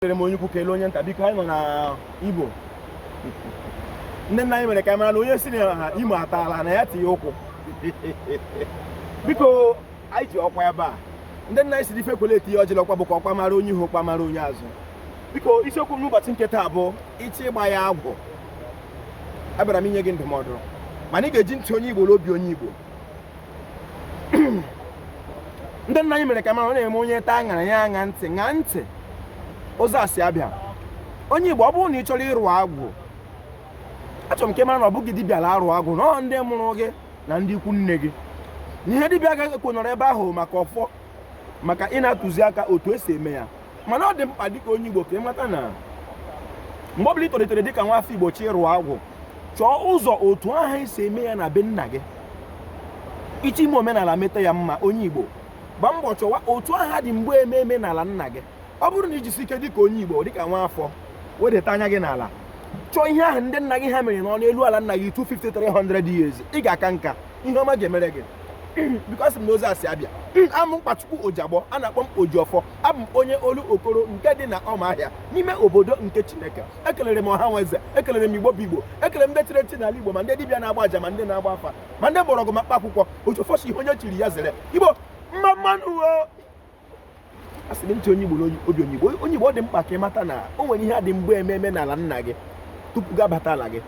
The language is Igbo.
kelere m onye ukwu kelee onye nta biko anyị nọ na igbo ndị nna anyị mere ka mara na onye sị na imo ataala na ya tinye ụkwụ biko anyị ji ọkwa ebe a ndị nna anyị sịrị ife kwele etinye ọjị n'ọkwa bụkwa ọkwa mara onye ihu ọkwa mara onye azụ biko isiokwu m n'ụbọchị nke taa bụ ịchọ ịgba ya agwụ abịara m inye gị ndụmọdụ mana ị ga-eji ntị onye igbo na obi onye igbo ndị nna anyị mere ka mara ọ na-eme onye taa aṅara ya aṅa ntị ṅa ntị ụzọ a si abịa onye igbo ọ bụrụ na ị chọrọ ịrụ agwụ achọrọ m ka ị mara na ọ bụghị dibịa la-arụ agwụ na ọ ndị mụrụ gị na ndị ikwu nne gị na ihe dibịa ga-ekwe nọrọ ebe ahụ maka ọfọ maka ịna-atụzi aka otu esi eme ya mana ọ dị mkpa dịka onye Igbo ka ị mata na mgbe ọbụla ị tolitere dịka nwa afọ Igbo chọọ ịrụ agwụ chọọ ụzọ otu ahụ esi eme ya na be nna gị ị chọọ ime omenala meta ya mma onye Igbo gbaa mbọ chọwa otu ahụ a dị mgbe eme eme n'ala nna gị ọ bụrụ na i jisie ike dịka onye Igbo dịka nwa afọ wedata anya gị n'ala chọọ ihe ahụ ndị nna gị ha mere nọọ n'elu ala nna gị 250 300 years ị ga-aka nka ihe ọma ga-emere gị bịakwasị m n'ụzọ a si abịa amụ mkpachukwu ojagbọ a na-akpọ m ojiọfọ abụ m onye olokoro nke dị na ọmahịa n'ime obodo nke chineke ekelere m ọha na eze ekelere m igbo bụ igbo ekelere m ndị chiri echi n'ala igbo ma ndị dibịa na-agba aja ma ndị na-agba afa ma ndị mgbọrọgwụ ma mkpa akwụkwọ ojiọfọ sị ihe onye chiri ya zere igbo mma mma nụ asị m ntị onye igbo na obi onye igbo onye igbo ọ dị mkpa ka ị mata na o nwere ihe a dị mgbe eme eme n'ala nna gị tupu gị abata ala gị